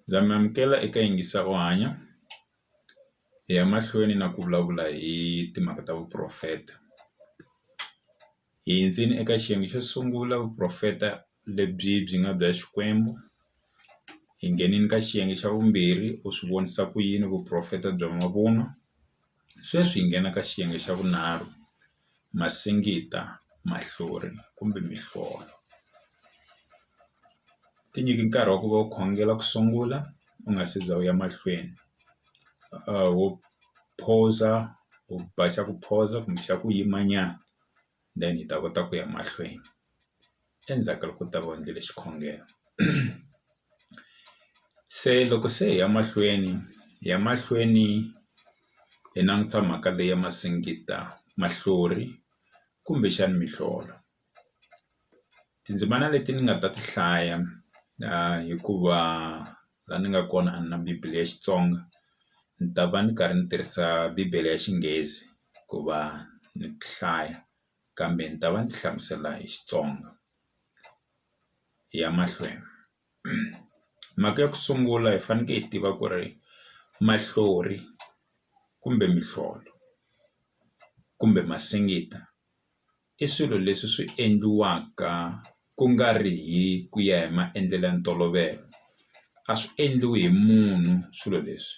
Ndza mi amukela eka yingisa u hanya hi ya mahlweni na ku vulavula hi timhaka ta vuporofeta hi hundzile eka xiyenge xo sungula vuporofeta lebyi byi nga bya Xikwembu hi ngheneni ka xiyenge xa vumbirhi u swi vonisa ku yini vuporofeta bya mavunwa. Sweswi hi nghena ka xiyenge xa vunharhu, masingita, mahlori kumbe mihlolo. Ti nyiki nkarhi wa ku va u khongela ku sungula u nga se za u ya mahlweni wo phuza u ba xa ku phuza kumbe xa ku yimanyana. then hi ta kota ku ya mahlweni endzhaku ka loko u ta va u endlile xikhongelo se loko se hi ya mahlweni hi ya mahlweni hi langusa mhaka leyi ya masingita mahlori kumbexana mihlolo. tindzimana leti ni nga ta ti hlaya hikuva laha ni nga kona a ni na bible ya Xitsonga ni ta va ni karhi ni tirhisa bibele ya Xinghezi ku va ni ti hlaya kambe ni ta va ni ti hlamusela hi Xitsonga hi ya mahlweni mhaka ya ku sungula hi fanekele hi tiva ku ri mahlori kumbe mihlolo kumbe masingita. i swilo leswi swi endliwaka ku nga ri hi ku ya hi maendlelo ya ntolovelo a swi endliwi hi munhu swilo leswi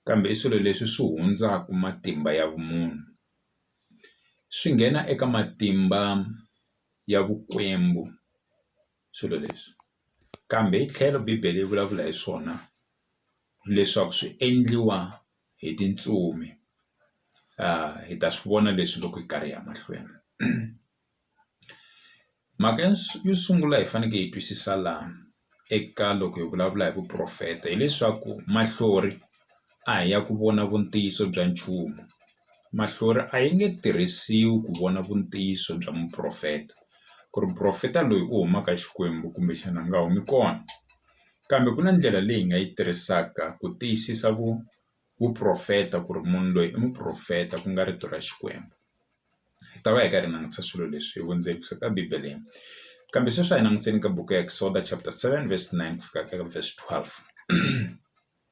kambe i swilo leswi swi hundzaka matimba ya vumunhu swi nghena eka matimba ya vukwembu swilo leswi kambe hi tlhelo bibele yi vulavula hi swona leswaku swi endliwa. hi tintsumi hi ta swi vona leswi loko hi karhi hi ya mahlweni mhaka ya yo sungula hi faneke hi twisisa laha eka loko hi vulavula hi vuporofeta hileswaku mahlori a hi ya ku vona vu ntiyiso bya nchumu mahlori a yi nge tirhisiwi ku vona vu ntiyiso bya muporofeta ku ri muporofeta loyi u humaka Xikwembu kumbexana a nga humi kona. kambe ku na ndlela leyi hi nga yi tirhisaka ku tiyisisa vu vuporofeta ku ri munhu loyi i muporofeta ku nga rito ra Xikwembu hi ta va hi karhi hi langutisa swilo leswi hi vundzeni bya ka Bibele kambe sweswi a hi languteni ka buku ya Exodus chapter seven verse nine ku fika ka verse twelve.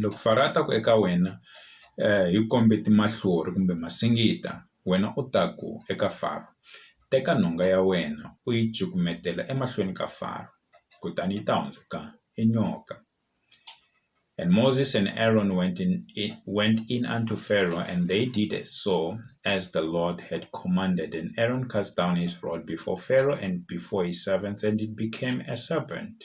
loko Faro a ta ku eka wena hi kombe timahlori kumbe masingita wena u ta ku eka Faro teka nhonga ya wena u yi cukumetela emahlweni ka Faro kutani yi ta hundzuka i nyoka and Moses and Aaron went in went in and to Pharaoh and they did as so as the Lord had commanded and Aaron cast down his rod before Pharaoh and before his servants and it became a serpent.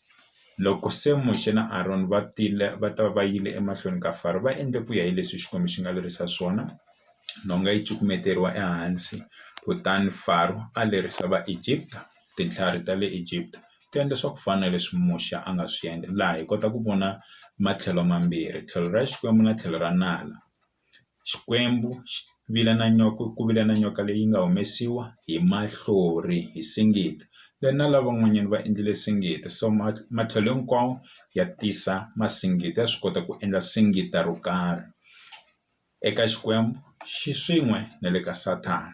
Loko se Muxe na Arona va tile va ta va yile emahlweni ka Faro va endle ku ya hi leswi Xikwembu xi nga lerisa swona nhonga yi cukumeteriwa ehansi kutani Faro a lerisa va Egipta tintlhari ta le Egipta ti endla swa ku fana na leswi Muxe a nga swi endla laha hi kota ku vona matlhelo mambirhi tlhelo ra Xikwembu na tlhelo ra nala. Xikwembu xi vile na nyoka ku vile na nyoka leyi nga humesiwa hi mahlori hi singita le na lavan'wanyani va endlile singita so ma matlhelo hinkwawo ya tisa masingita ya swi kota ku endla singita ro karhi eka Xikwembu xi swin'we na le ka Sathana.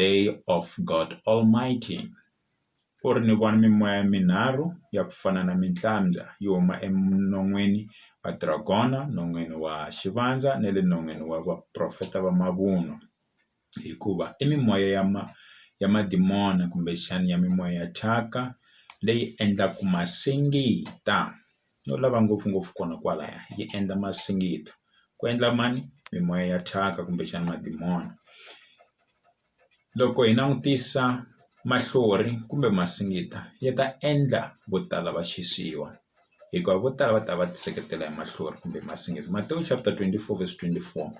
Day of God Almighty ku ri ni vona mimoya minharhu ya ku fana na mitlambya yi huma eminon'wini wa dragon non'wini wa xivandza na le non'wini wa vaprofeta va mavunwa hikuva i mimoya ya ma ya madimoni kumbexani ya mimoya ya thyaka leyi endlaku masingita. no lava ngopfungopfu kona kwalaya yi endla masingita ku endla mani mimoya ya thyaka kumbexana madimoni loko hi langutisa mahlori kumbe masingita ya ta endla vo tala va xisiwa hikuva vo tala va ta va ti seketela hi mahlori kumbe masingita Matewu chapter twenty four verse twenty four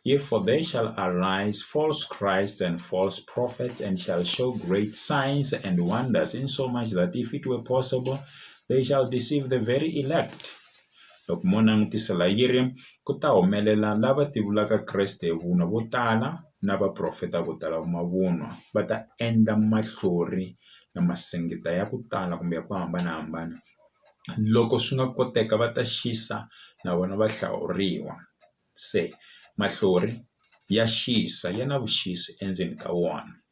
yi for they shall arise false Christ and false prophets and shall show great signs and wonders in so much that if it were possible they shall deceive the very elect loko mo langutisela yi ri ku ta humelela lava ti vulaka kreste hi vunwa vo tala na vaprofeta vo tala va mavunwa va ta endla mahlori na masingita ya ku tala kumbe ya ku hambanahambana loko swi nga koteka va ta xisa na vona va hlawuriwa se mahlori ya xisa ya na vuxisi endzeni ka wona.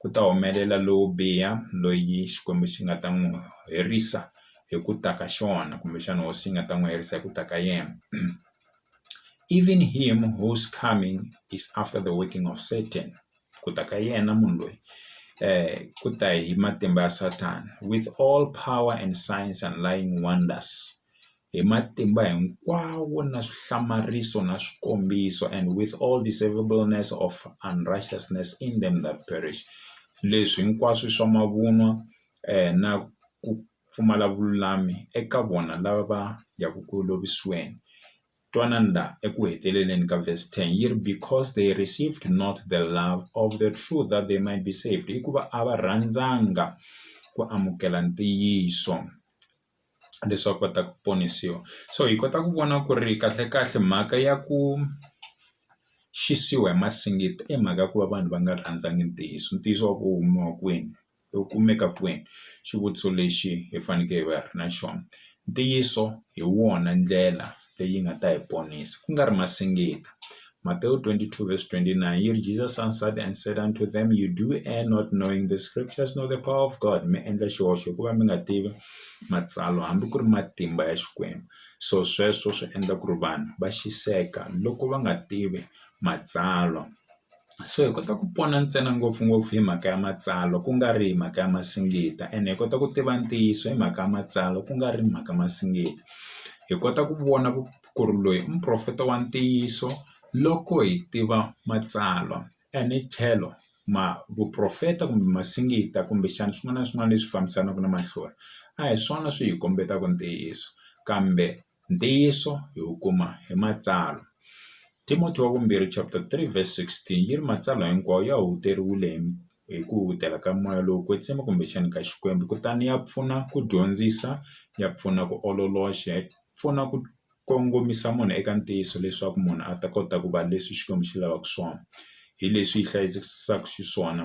ku ta humelela lowo biha loyi Xikwembu xi nga ta n'wi herisa hi ku ta ka xona kumbexana hosi yi nga ta n'wi herisa hi ku ta ka yena even him who's coming is after the working of Satan ku ta ka yena munhu loyi ku ta hi matimba ya Sathana with all power and science and lying wonders hi matimba hinkwawo na swihlamariso na swikombiso, and with all deceivableness of unrighteousness in them that perish, leswi hinkwaswo i swa mavunwa na ku pfumala vululami eka vona lava va yaka ku lovisiweni. Twanani la eku heteleleni ka verse 10 yi ri, Because they received not the love of the truth that they might be saved, hikuva a va rhandzanga ku amukela ntiyiso. leswaku va ta ku ponisiwa so hi kota ku vona ku ri kahle kahle mhaka ya ku xisiwi hi masingita i mhaka ya ku va vanhu va nga rhandzangi ntiyiso ntiyiso wa ku u kumiwa kwini u kumeka kwini xivutiso lexi hi faneke hi va hi ri na xona ntiyiso hi wona ndlela. leyi nga ta hi ponisa ku nga ri na singita. Matewu 22 verse 29 yi ri Jesus answered and said unto them you do err not knowing the scriptures nor the power of God mi endla xihoxo hikuva mi nga tivi matsalwa hambi ku ri matimba ya Xikwembu so sweswo swi endla ku ri vanhu va xiseka loko va nga tivi matsalwa. so hi kota ku pona ntsena ngopfungopfu hi mhaka ya matsalwa ku nga ri hi mhaka ya masingita ene hi kota ku tiva ntiyiso hi mhaka ya matsalwa ku nga ri mhaka masingita hi kota ku vona ku ku ri loyi i muprofeta wa ntiyiso loko hi tiva matsalwa ene tlhelo ma vuprofeta kumbe masingita kumbexana swin'wana na swin'wana leswi fambisanaka na mahlori a hi swona swi hi kombetaka ntiyiso kambe Ntiyiso hi wu kuma hi Matsalwa. Timothy wa Vumbirhi chapter 3 verse 16 yi ri, Matsalwa hinkwawo ya huteriwile hi hi ku hutela ka moya lowo kwetsima kumbexana ka Xikwembu, kutani ya pfuna ku dyondzisa, ya pfuna ku ololoxa, ya pfuna ku kongomisa munhu eka ntiyiso leswaku munhu a ta kota ku va leswi Xikwembu xi lavaka swona, hi leswi yi hlayisekisaka xiswona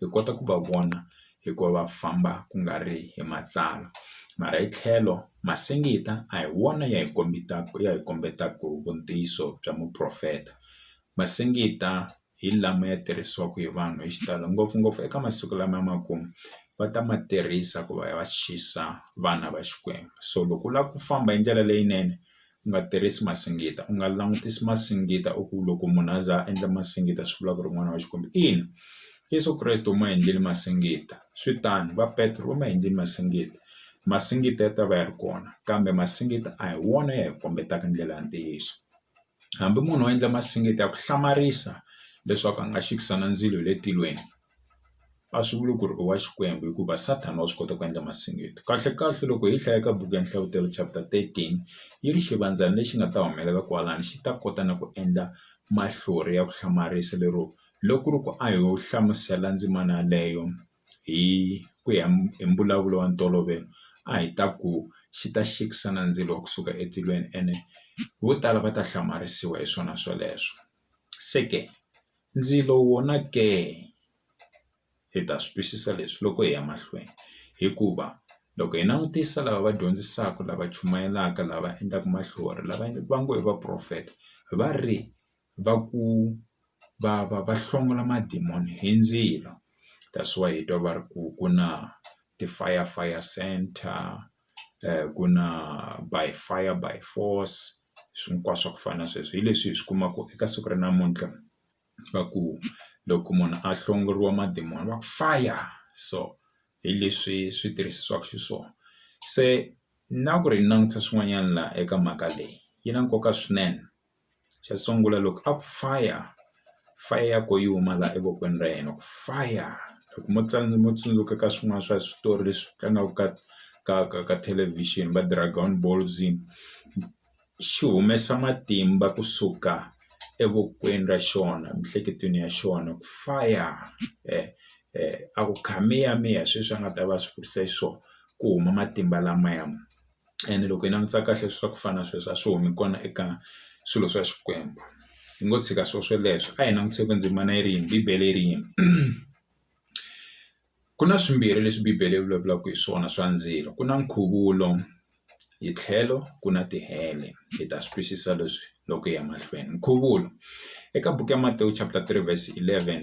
hi kota ku va vona hikuva va famba ku nga ri hi matsalwa mara hi tlhelo masingita a hi wona ya hi kombetaka ya hi kombetaka vu ntiyiso bya muprofeta masingita hi lama ya tirhisiwaka hi vanhu hi xitalo ngopfungopfu eka masiku lama ya makumu va ta ma tirhisa ku va ya va xisa vana va Xikwembu so loko u lava ku famba hi ndlela leyinene. u nga tirhisi masingita u nga langutisi masingita u ku loko munhu a za a endla masingita swi vula ku ri n'wana wa Xikwembu ina Yeso Kreste u ma endlile masingita swi tano va Petro va ma endlile masingita masingita ya ta va ya ri kona kambe masingita a hi wona ya hi kombetaka ndlela ya ntiyiso hambi munhu a endla masingita ya ku hlamarisa leswaku a nga xikisana ndzilo hi le tilweni. a swi vuli ku ri i wa Xikwembu hikuva Sathana wa swi kota ku endla masiandoto kahle kahle loko hi hlaya ka buku ya nhlavutelo chapter thirteen yi ri xivandzana lexi nga ta humelela kwalano xi ta kota na ku endla mahlori ya ku hlamarisa lero loko ku ri ku a hi yo hlamusela ndzimana yaleyo hi ku ya hi mbulavulo wa ntolovelo a hi ta ku xi ta xikisa na ndzilo wa kusuka etilweni ene vo tala va ta hlamarisiwa hi swona sweleswo se ke. ndzilo wona ke hi ta swi twisisa leswi loko hi ya mahlweni hikuva loko hi langutisa lava va dyondzisaka lava chumayelaka lava endlaka mahlori lava va ngo i vaporofeta va ri va ku va va va hlongola madimoni hi ndzilo that's why hi twa va ri ku ku na ti-fire fire centre. ku na by fire by force swi hinkwaso swa ku fana na sweswo hi leswi hi swi kumaka eka siku ra namuntlha va ku loko munhu a hlongoriwa madimoni va ku fire so hi leswi swi tirhisiwaka xiswona se na ku ri langutisa swin'wanyana laha eka mhaka leyi yi na nkoka swinene. xo sungula loko a ku fire fire ya ko yi huma laha evokweni ra yena ku faya loko mo mo tsundzuka ka swin'wana swa switori leswi tlangaka ka ka ka ka thelevhixini va dragon balls xi humesa matimba kusuka evokweni ra xona emiehleketweni ya xona ku faya a ku kha miya miya hi sweswi a nga ta va swi kurisa xiswona ku huma matimba lamaya. ene loko hi langutisa kahle swa ku fana na sweswo a swi humi kona eka swilo swa Xikwembu hi ngo tshika swilo swoleswo a hi langutisa ku ndzimana yi ri yini bibele yi ri yini ku na swimbirhi leswi bibele yi vulavulaka hi swona swa ndzilo ku na nkhuvulo hi tlhelo ku na tihele hi ta swi twisisa leswi loko hi ya mahlweni nkhuvulo eka buku ya Matewu chapter three verse eleven.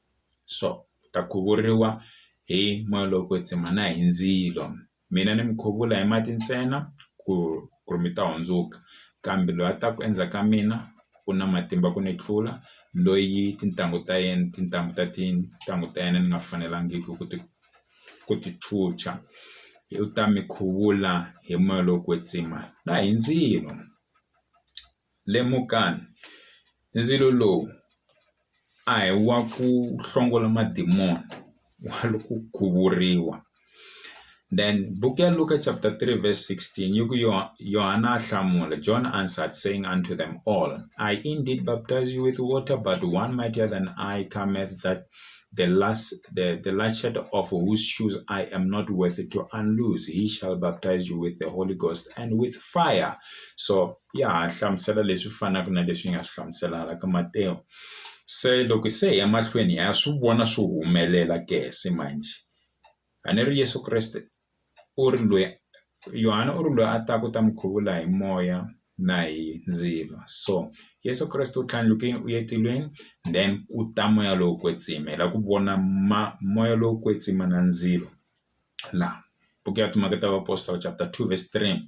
so u ta khuvuriwa hi moya lowo kwetsima na hi ndzilo mina ni mi khuvula hi mati ntsena ku ku ri mi ta hundzuka kambe loyi a taka endzhaku ka mina u na matimba ku ni tlula loyi tintangu ta yena tintambu ta tintangu ta yena ni nga fanelangiki ku ti ku ti chucha u ta mi khuvula hi moya lowo kwetsima na hi ndzilo. Lemukani, ndzilo lowu a hi wa ku hlongola madimoni i wa ku khuvuriwa then buku ya Luka chapter three verse sixteen yi ku Yona a hlamula John answered saying unto them all I indeed baptize you with water but one mightier than I cometh that the last the the latchet of whose shoes I am not worthy to unloose he shall baptize you with the Holy Ghost and with fire so ya ha hlamusela leswi fanaka na leswi yi nga swi hlamuselaka ka Matewu. Se loko se hi ya mahlweni ha swi vona swi humelela ke se manjhe a ni ri Yeso Kreste u ri lweyi Yohana u ri lweyi a taka u ta mi khuvula hi moya na hi ndzilo so Yeso Kreste u tlhandlukile u ya etilweni then ku ta moya lowo kwetsima hi lava ku vona ma moya lowo kwetsima na ndzilo laha buku ya Timhaka ta Vaapostola chapter two verse three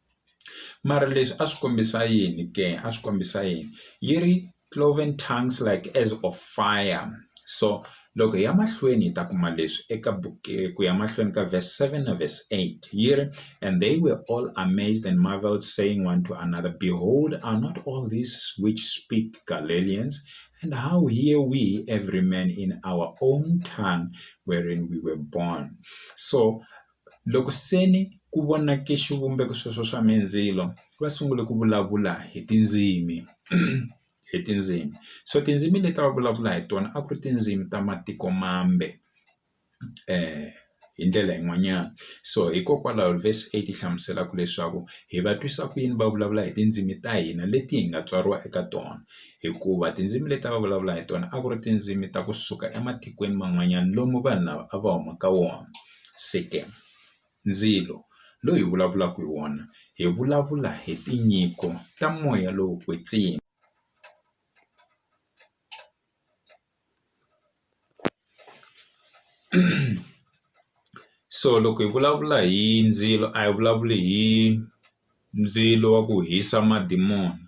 mara leswi a swi kombisa yini ke a swi kombisa yini yi ri cloven tongues like as of fire so loko hi ya mahlweni hi ta kuma leswi eka buku ku ya mahlweni ka verse seven na verse eight yi ri and they were all amazed and marvelled saying one to another behold are not all these which speak Galileans and how hear we every man in our own tongue wherein we were born so Loko se ni ku vonake xivumbeko sweswo swa mindzilo va sungule ku vulavula hi tindzimi hi tindzimi so tindzimi leti a va vulavula hi tona a ku ri tindzimi ta matiko mambe hi ndlela yin'wanyana so hikokwalaho vese a yi ti hlamuselaka leswaku hi va twisa ku yini va vulavula hi tindzimi ta hina leti hi nga tswariwa eka tona hikuva tindzimi leti a va vulavula hi tona a ku ri tindzimi ta kusuka ematikweni man'wanyana lomu vanhu lava a va huma ka wona. Sikem, Ndzilo loyi hi vulavulaka hi wona hi vulavula hi tinyiko ta moya lowo kwetsima so loko hi vulavula hi ndzilo a hi vulavuli hi ndzilo wa ku hisa madimoni.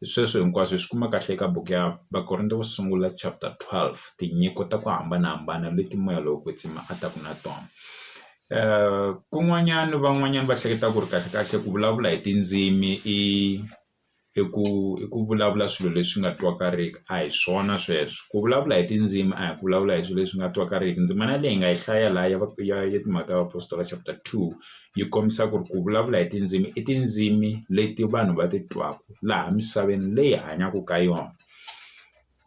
hi sweswo hinkwaswo hi swi kuma kahle eka buku ya Vakorinto wo sungula chapter 12 tinyiko ta ku hambanahambana leti moya lowo kwetsima a taka na tona kun'wanyana van'wanyana va hleketa ku ri kahle kahle ku vulavula hi tindzimi i i ku i ku vulavula swilo leswi nga twakariki a hi swona sweswo ku vulavula hi tindzimi a hi ku vulavula hi swilo leswi nga twakariki ndzimana leyi nga yi hlaya laha ya ya ya timhaka ta vapostola chapter two yi kombisa ku ri ku vulavula hi tindzimi i tindzimi leti vanhu va ti twaka laha misaveni leyi hi hanyaka ka yona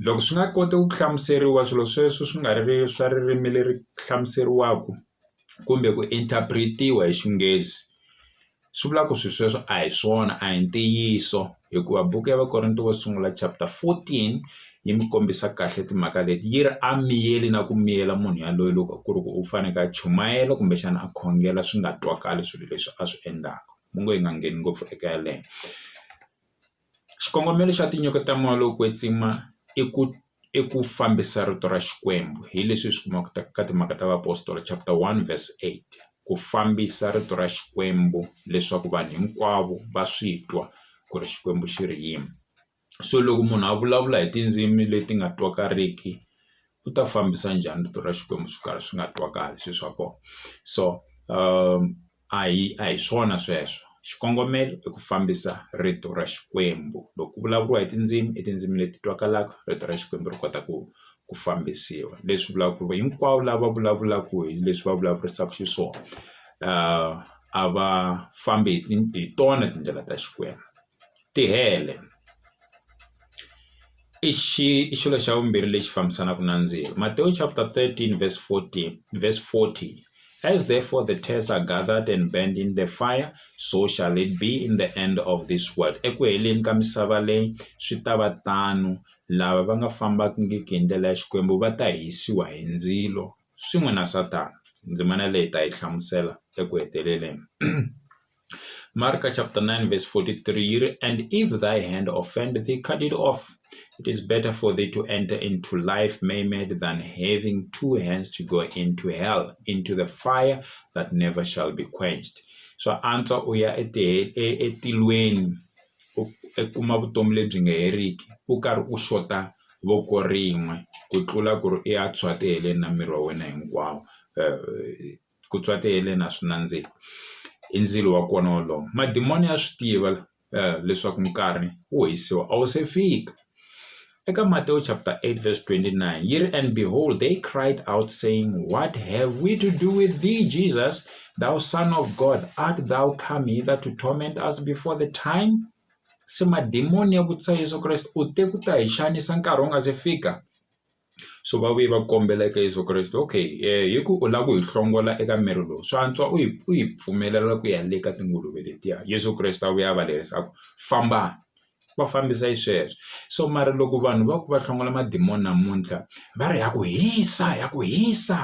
loko swi nga koti ku hlamuseriwa swilo sweswo swi nga ri swa ririmi leri hlamuseriwaka kumbe ku interpret-iwa hi xinghezi swi vula ku swilo sweswo a hi swona a hi ntiyiso. Hikuva buku ya Vakorinto wo sungula chapter 14 yi mi kombisa kahle timhaka leti yi ri a miyeli na ku miyela munhu yaloye loko ku ri ku u faneke a chumayela kumbexana a khongela swi nga twakali swilo leswi a swi endlaka mu ngo hi nga ngheni ngopfu eka yaleyo xikongomelo xa tinyiko ta moya lowu kwetsima i ku i ku fambisa rito ra Xikwembu hi leswi hi swi kumaka ka ka Timhaka ta Vaapostola chapter one verse eight ku fambisa rito ra Xikwembu leswaku vanhu hinkwavo va swi twa ku ri Xikwembu xi ri yini so loko munhu a vulavula hi tindzimi leti nga twakariki u ta fambisa njhani rito ra Xikwembu swi karhi swi nga twakali swilo swa kona so . a hi a hi swona sweswo xikongomelo i ku fambisa rito ra Xikwembu loko ku vulavuriwa hi tindzimi i tindzimi leti twakalaka rito ra Xikwembu ri kota ku ku fambisiwa leswi vulaka ku ri hinkwavo lava vulavulaka hi leswi va vulavurisaka xiswona a va fambi hi hi tona tindlela ta Xikwembu. tihele i xi i xilo xa vumbirhi lexi fambisanaka na ndzilo Matewu chapter 13 verse 14 verse 14 as therefore the tears are gathered and burned in the fire so shall it be in the end of this world eku heleni ka misava leyi swi ta va tano lava va nga fambangiki hi ndlela ya xikwembu va ta hisiwa hi ndzilo swin'we na Sathana ndzimana leyi ta yi hlamusela eku heteleleni Mark chapter 9 verse 43 yi ri and if thy hand offend thee cut it off it is better for thee to enter into life maimed than having two hands to go into hell into the fire that never shall be quenched swa antswa u ya etilweni u kuma vutomi lebyi nga heriki u karhi u xota voko rin'we ku tlula ku ri i ya tshwatihele na miri wa wena hinkwawo ku twa ti heleni a swi nandziki i ndzilo wa kona wolowo madimoni ya swi tiva leswaku nkarhi wo hisiwa a wu se fika eka Matewu chapter eight verse twenty nine yi ri and behold they cried out saying what have we to do with thee Jesus thou son of God art thou come hither to torment us before the time se madimoni ya vutisa Yeso Kreste u te ku ta hi xanisa nkarhi wu nga se fika so va vuye va ku kombela eka Yeso Kreste okay hi ku u lava ku hi hlongola eka miri lowu swa antswa u hi u hi pfumelela ku ya le ka tinguluve letiya Yeso Kreste a vuya a va lerisa a ku fambani va fambisa yi sweswo so mara loko vanhu va ku va hlongola madimoni namuntlha va ri ha ku hisa ha ku hisa.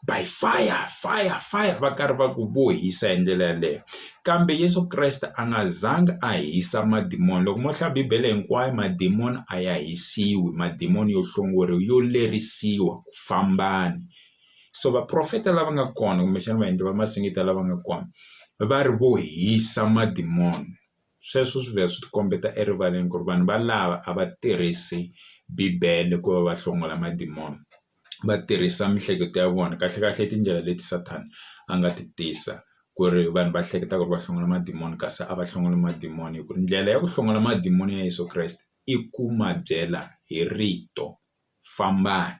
by fire fire fire va karhi va ku vo hisa hi ndlela yaleyo kambe Yesu Kreste a nga zanga a hisa madimoni loko mo hlaya bibele hinkwayo madimoni a ya hisiwi madimoni yo hlongoriwa yo lerisiwa ku fambani so vaprofeta lava nga kona kumbexana vaendli va masingita lava nga kona va ri vo hisa madimoni sweswo swi vhela swi ti kombeta erivaleni ku ri vanhu valava a va tirhisi bibele ku va va hlongola madimoni va tirhisa miehleketo ya vona kahlekahle tindlela leti Sathana a nga ti tisa ku ri vanhu va hleketa ku ri va hlongola madimoni kasi a va hlongola madimoni hi ku ri ndlela ya ku hlongola madimoni ya Yeso Kreste i ku ma byela hi rito fambani.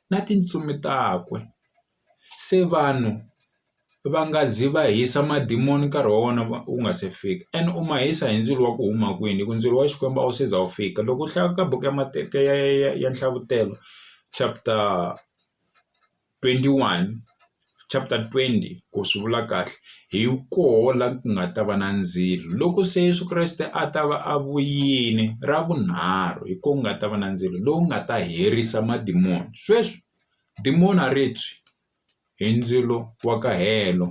na tintsumi takwe. Se vanhu va nga zi va hisa madimoni nkarhi wa wona wu nga se fika ene u ma hisa hi ndzilo wa ku huma kwini hi ku ndzilo wa Xikwembu a wu se za wu fika loko u hlaya ka buku ya mateka ya ya ya ya Nhlavutelo chapter twenty one. chapter twenty ku swi vula kahle hi koho la ku nga ta va na ndzilo loko se Yeso Kreste a ta va a vuyile ra vunharhu hi ko ku nga ta va na ndzilo lowu nga ta herisa madimoni sweswi dimoni a ri tshwi hi ndzilo wa ka helo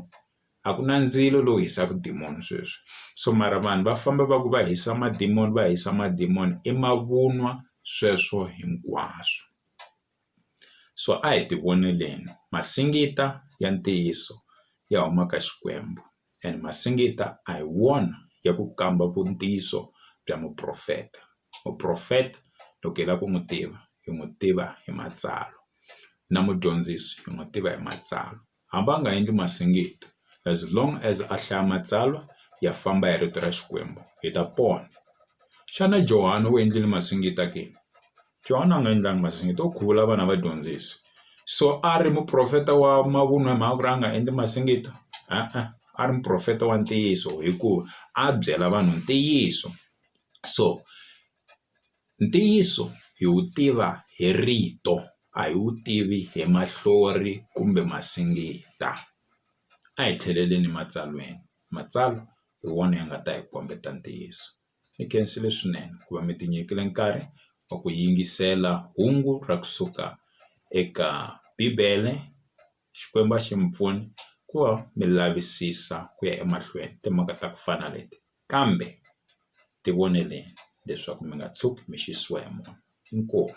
a ku na ndzilo lowu hisaka dimoni sweswi so mara vanhu va famba va ku va hisa madimoni va hisa madimoni i mavunwa sweswo hinkwaswo. so a hi ti voneleni masingita ya ntiyiso ya huma ka Xikwembu and masingita a hi wona ya ku kamba vu ntiyiso bya muprofeta muprofeta loko hi lava ku n'wi tiva hi n'wi tiva hi matsalwa na mudyondzisi hi n'wi tiva hi matsalwa. hambi a nga endli masingitta as long as a hlaya matsalwa ya famba ya rito ra Xikwembu hi ta pona. Xana Johani u endlile masingitta ke? Johani a nga endlangi masingitta u khuvula vana va dyondzisi so a ri muprofeta wa mavunwa hi mhaka ku ri a nga endli masingitta e-e a ri muprofeta wa ntiyiso hikuva a byela vanhu ntiyiso so Ntiyiso hi wu tiva hi rito a hi wu tivi hi mahlori kumbe masingita. A hi tlheleleni ematsalweni matsalwa hi wona ya nga ta hi kombeta ntiyiso. Ni khensile swinene ku va mi tinyikile nkarhi wa ku yingisela hungu ra kusuka eka bibele. Xikwembu a xi mi pfuni ku va mi lavisisa ku ya emahlweni timhaka ta ku fana leti kambe ti voneleni leswaku mi nga tshuki mi xisiwa hi moya inkomu.